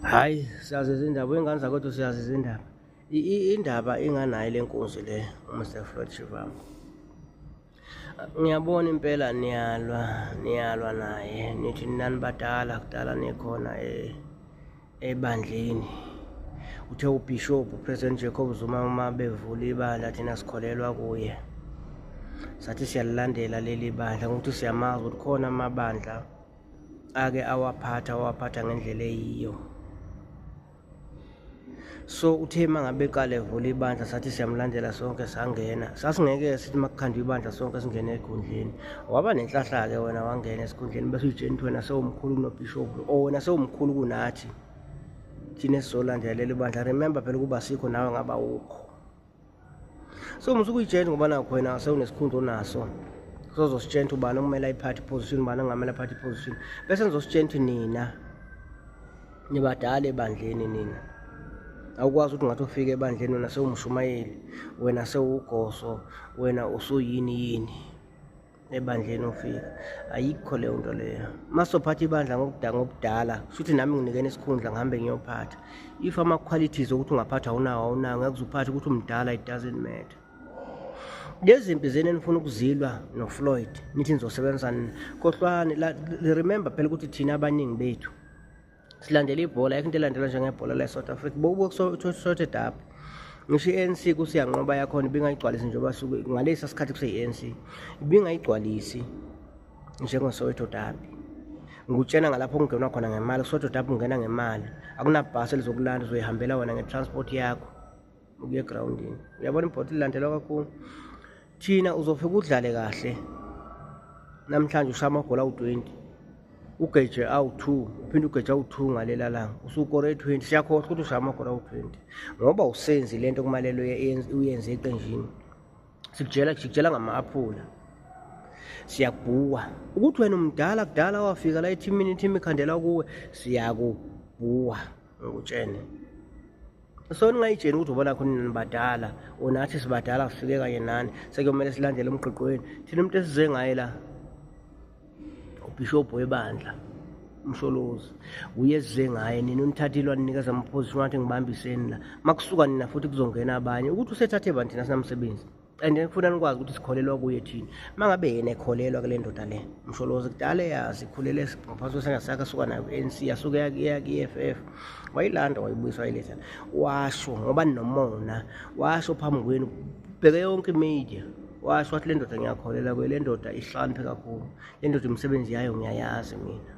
hayi siyazi izindaba uyingane zakwethu siyazi izindaba indaba inganayo le nkunzi le umr floyd shivamo ngiyabona impela niyalwa niyalwa naye nithi nani badala kudala nikhona eh, ebandleni uthe ubhishobhu upresident jacob zuma uma bevula ibandla thina sikholelwa kuye sathi siyalilandela leli bandla ngokuthi siyamazi ukuthi khona amabandla ake awaphatha awaphatha ngendlela eyiyo so uthe uma ngabe eqala evula ibandla sathi siyamlandela sonke sangena sasingeke sithi uma kukhandwa ibandla sonke singene ekhundleni waba nenhlahla-ke wena wangena esikhundleni bese uyitsheni ukuthi wena sewumkhulu kunobhishobhu or wena sewumkhulu kunathi thina esizolandelela ibandla remember phela ukuba sikho nawe ngaba wukho so musuke uyitshela ngoba nakho wena sewunesikhundla onaso sozositshela ukuthi ubani okumele ayiphathe iposition ubani ongamele aphathe iposition bese nizositshela ukuthi nina nibadala ebandleni nina awukwazi ukuthi ngathi ufike ebandleni wena sewumshumayeli wena sewugoso wena usuyini yini ebandleni ufika ayikho leyo nto leyo masophatha ibandla ngokudala ngokudala shuthi nami nginikene isikhundla ngihambe ngiyophatha if ama qualities ukuthi ungaphatha awunawo awunawo ngeke uzuphathe ukuthi umdala it doesn't matter lezi mpi zeni enifuna ukuzilwa nofloyd nithi nizosebenzisana kohlwani remember phela ukuthi thina abaningi bethu silandela ibhola ayikho into elandelwa njengebhola le-south africa bokubokusothi dab ngisho i-anc kusiyanqoba yakhona ibingayigcwalisi njengoba suke ngalesa sikhathi kuseyi-anc ibingayigcwalisi njengosoweto dabi ngikutshena ngalapho kungenwa khona ngemali kusoweto dabi ungena ngemali akunabhasi elizokulanda uzoyihambela wena nge-transport yakho ukuya egroundini uyabona ibhoti lilandelwa kakhulu thina uzofika udlale kahle namhlanje ushaya amagoli awu-20 ugeje awu-2 uphinde ugeje awu-2 ngalela langa usukore 20 siyakhohlwa ukuthi ushaya amagoli awu-20 ngoba usenzi le nto kumalelo uyenze eqenjini sikujela sikujela ngama-aphula siyakubhuwa ukuthi wena umdala kudala wafika la ethimini ithimi ikhandela kuwe siyakubhuwa ngikutshene so ningayitsheni ukuthi ubona khona nini badala or nathi sibadala sifike kanye nani sekuyomele silandele umgqigqweni thina umuntu esize ngaye la ubhishobhu webandla umsholozi uye esize ngaye nina unithathile waninikeza amaphosi wathi ngibambiseni la makusuka nina futhi kuzongena abanye ukuthi usethathe bani thina sinamsebenzi and then kufuna nikwazi ukuthi sikholelwa kuye thina uma ngabe yena ekholelwa kule ndoda le msholozi kudala eyazi ikhulele ngaphansi kwesengasakhe asuka nayo ku-n c yasuke yakuya ku-e f f wayilanda wayibuyisa wayiletha washo ngoba ninomona washo phambi kwenu bheke yonke imedia washo wathi le ndoda ngiyakholela kuye le ndoda ihlakaniphe kakhulu le ndoda imisebenzi yayo ngiyayazi mina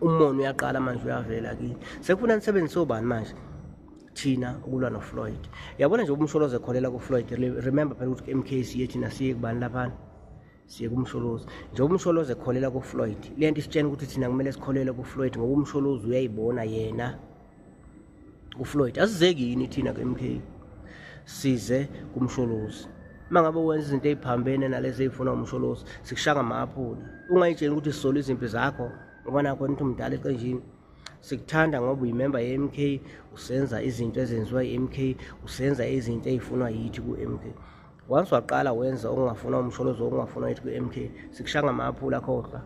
umona uyaqala manje uyavela kini sekufuna nisebenzise obani manje thina ukulwa nofloyd yabona nje umsholozi ekholela kufloyd remember phela ukuthi mk siye thina siye kubani laphana siye kumsholozi njengoba umsholozi ekholela kufloyd le nto isitshena ukuthi thina kumele sikholele kufloyd ngoba umsholozi uyayibona yena uFloyd asizeki yini thina ke MK size kumsholozi uma ngabe wenza izinto eziphambene nalezi ezifuna umsholozi sikushanga maphula ungayitsheni ukuthi sisola izimpi zakho ngoba nakho nithi umdala eqenjini sikuthanda ngoba uyimemba ye-MK usenza izinto ezenziwa i-MK usenza izinto ezifunwa yithi ku-MK once waqala wenza okungafuna umsholozi okungafuna yithi ku-MK sikushanga maphula khohlwa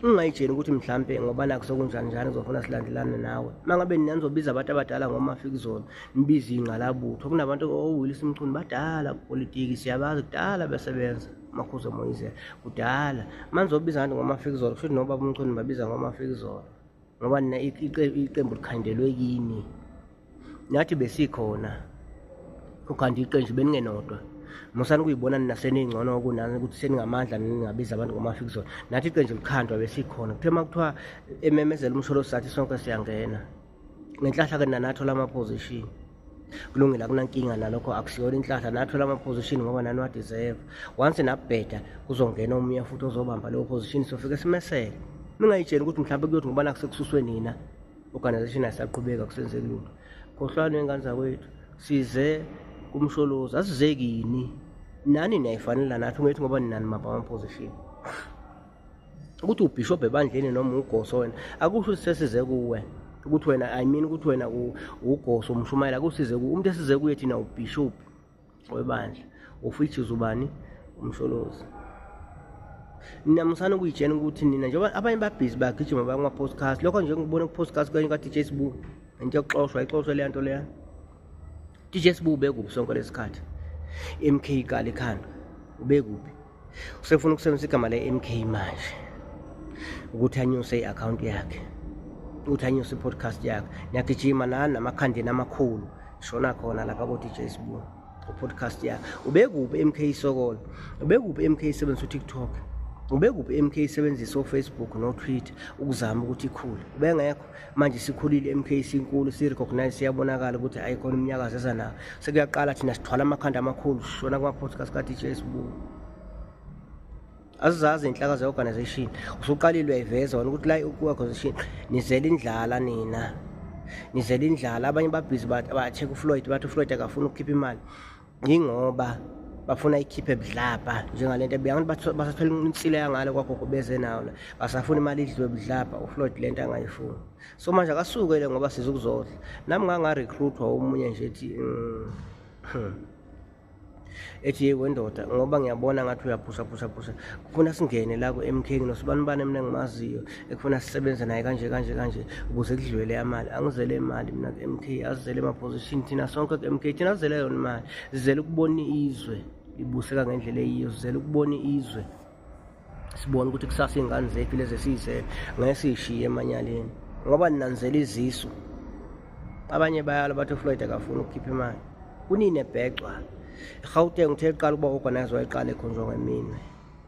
ungayitsheni ukuthi mhlampe ngoba nakho sokunjani njani uzofuna silandelane nawe uma ngabe nina nizobiza abantu abadala ngomafikizona nibize ingqalabutho kunabantu owilisa oh, umchuni badala kupolitiki siyabazi kudala besebenza makhuza moyizela kudala uma nizobiza abantu ngomafikizolo kusho ukuthi nobaba umchuni babiza ngomafikizolo ngoba nina iqembu likhandelwe kini nathi besikhona ukhanda iqenju beningenodwa musani kuyibona nina seningcono kunani ukuthi seningamandla ningabiza abantu ngomafikizona nathi iqenju likhandwa besikhona kuthe uma kuthiwa ememezela umsholo sathi sonke siyangena ngenhlahla-ke nanathola ama-position kulungile akunankinga nalokho akusiyona inhlahla nathola ama-position ngoba nani wadeserve once nabheda kuzongena omunye futhi ozobamba leyo position sofike simesele ningayitsheni ukuthi mhlawumbe kuyothi ngoba nakusekususwe nina organization asaqhubeka kusenzeki lutho khohlwani wengane zakwethu size kumsholozi asizekini nani niyayifanela nathi ungethi ngoba ninani mabama position ukuthi ubishop ebandleni noma ugoso wena akusho ukuthi sesize kuwe ukuthi wena i mean ukuthi wena ugoso umshumayela akusize kuwe umuntu esize kuye thina ubishop webandla of which is ubani umsholozi ninamusana ukuyitshena ukuthi nina njengoba abanye babhizi bagijima bakuma-podcast lokho nje ngibona ku-podcast kanye ka-dj sbu into yokuxoshwa ixoshwe leya nto leya dj sbu ubekuphi sonke lesikhathi mk kali khanda ubekuphi usefuna ukusebenzisa igama le-mk manje ukuthi anyuse i-akhawunti yakhe ukuthi anyuse i-podcast yakhe niyagijima nani namakhandeni amakhulu shona khona lapha kodj sibu upodcast yakhe ubekuphi mk isokolo ubekuphi mk isebenzisa utiktok ubekuphi mk isebenzisa ufacebook notwitter ukuzama ukuthi ikhule ubengekho manje sikhulile MK sinkulu si recognize siyabonakala ukuthi ayikhona umnyakazo eza nawo sekuyaqala thina sithwala amakhanda amakhulu shona kuma podcast ka DJ Sbu azizazi inhlaka ze organization usuqalile uyayiveza wena ukuthi la ku organization nizela indlala nina nizela indlala abanye babhizi ba check uFloyd bathi uFloyd akafuni ukukhipha imali yingoba bafuna ikhiphe budlabha njengalento ebuya abantu basathola insile yangale kwagogo beze nawo la basafuna imali idliwe budlabha ufloyd le nto angayifuni so manje akasukele ngoba siza ukuzodla nami ngangarecruitwa omunye nje ethi mm, hmm. ethi yeko ndoda ngoba ngiyabona ngathi uyaphusaphusaphusha kufuna singene la ku-m k nginosubanibani mina ngimaziyo ekufuna sisebenze naye kanje kanje kanje ukuze kudlwele amali angizele imali mina ku-mk azizele emaposition thina sonke ku-mk thina azizele yona imali zizele ukubona izwe ibuseka ngendlela eyiyo zizele ukubona izwe sibone ukuthi kusasa iy'ngane zethu lezi esiyizele ngeke siyishiye emanyaleni ngoba ninanzela izisu abanye bayalo bathi ufloyd akafuni ukukhipha imali kunini ebhecwa irhawuteng uthe liqala ukuba organize wayiqala ekhonjwa ngemina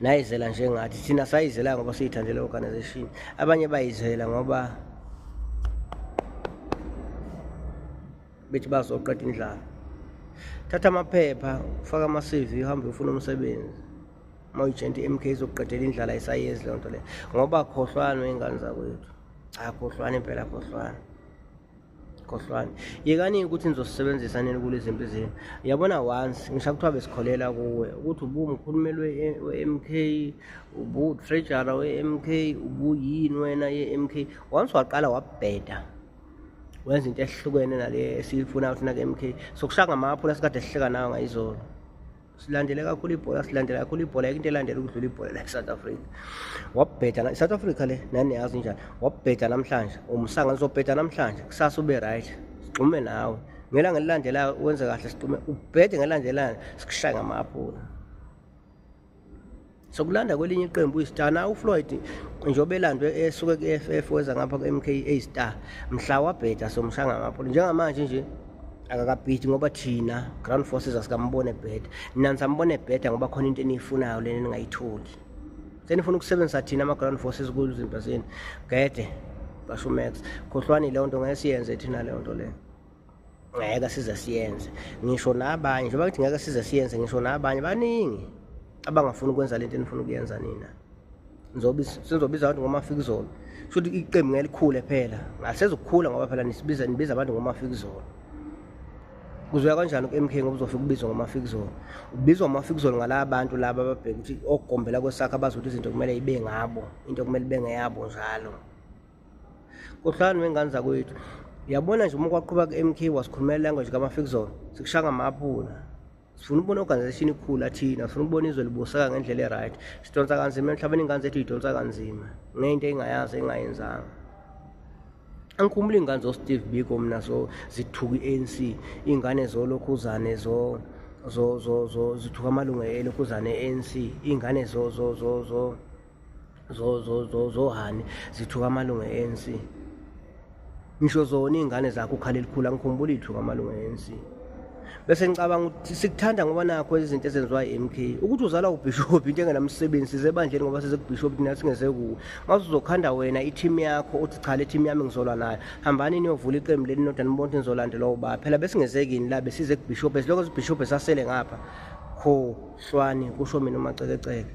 nayizela njengathi thina sayizela ngoba siyithandele organization abanye bayizela ngoba bethi bazoqeda indlala thatha amaphepha ufake ama-cv uhambe ufuna umsebenzi uma uyijenti i-mk izokuqedela indlala isayenzi leyo nto leyo ngoba khohlwane wey'ngane zakwethu cha khohlwane impela khohlwane khohlwani yekani ukuthi nizosisebenzisa nini kule zimpi zenu yabona once ngisha kuthiwa besikholela kuwe ukuthi ubumkhulumeli we-m k ubutrejara we-m k ubuyini wena ye-m k once waqala wabheda wenza into ehlukene nale esiyifuna ukuthi nake-m k sokushaya ngamaphula sikade sihleka nayo ngayizolo silandele kakhulu ibhola silandele kakhulu ibhola yeke into elandela ukudlula ibhola la e-south africa wabheda i-south africa le nani yazi njani wabheda namhlanje umsanga lizobheda namhlanje kusasa ube right sigxume nawe ngelanga elilandelayo wenze kahle sigxume ubhede ngelandelayo sikushaye ngamaphula Sokulanda kwelinye iqembu iStar na uFloyd njengoba elandwe esuke ku-FF weza ngapha ku-MKA Star mhla wabheda somshanga ngapho njengamanje nje akakabhidi ngoba thina ground forces asikambone bheda nina nisambone bheda ngoba khona into eniyifunayo lena ningayitholi senifuna ukusebenzisa thina ama-ground forces kulo izinto zenu gede basho umax khohlwani leyo nto ngeke siyenze thina leyo nto leyo ngeke size siyenze ngisho nabanye njengoba ngithi ngeke size siyenze ngisho nabanye baningi abangafuni ukwenza lento enifuna ukuyenza nina sizobiza abantu ngomafikizolo kusho ukuthi iqembu ngeke likhule phela ngasezokukhula ngoba phela nisibiza nibiza abantu ngomafikizolo kuzoya kanjani ku-mk ngoba uzofika ubizwa ngomafikizolo ubizwa ngomafikizolo ngalaba bantu laba ababheke ukuthi okugombela kwesakho abazi ukuthi izinto kumele ibe ngabo into kumele ibe ngeyabo njalo Kohlani wengane zakwethu. Yabona nje uma kwaqhuba ku-MK wasikhulumela language kamafikzone sikushanga amaphula sifuna ukubona i-organization ikhula thina sifuna ukubona izwe libuseka ngendlela e-right sidonsa kanzima emhlabeni ingane zethu yidonsa kanzima ngento engayazi engayenzanga angikhumbula iy'ngane zosteve biko mna so zithuka i-anc iy'ngane zolokhuzane zo zo zo zo zithuka amalungu elokhuzane e-anc iy'ngane zo zo zo zo zohani zithuka amalungu e-anc ngisho zona iy'ngane zakho ukhala elikhulu angikhumbula ithuka amalungu e-anc bese ngicabanga ukuthi sikuthanda ngoba nakho izinto ezenziwa i-m k ukuthi uzala ubhishobhi into engenamsebenzi size ebandleni ngoba sezekubhishobhi thina singeze kuwe mase uzokhanda wena ithimu yakho uthi cha le thimu yami ngizolwa nayo hambani niyovula iqembu leli nodwa nibona ukuthi nizolandelwa ubaba phela besingezekini la besize kubhishobhi esilokho zibhishobhi esasele ngapha khohlwani kusho mina umacekeceke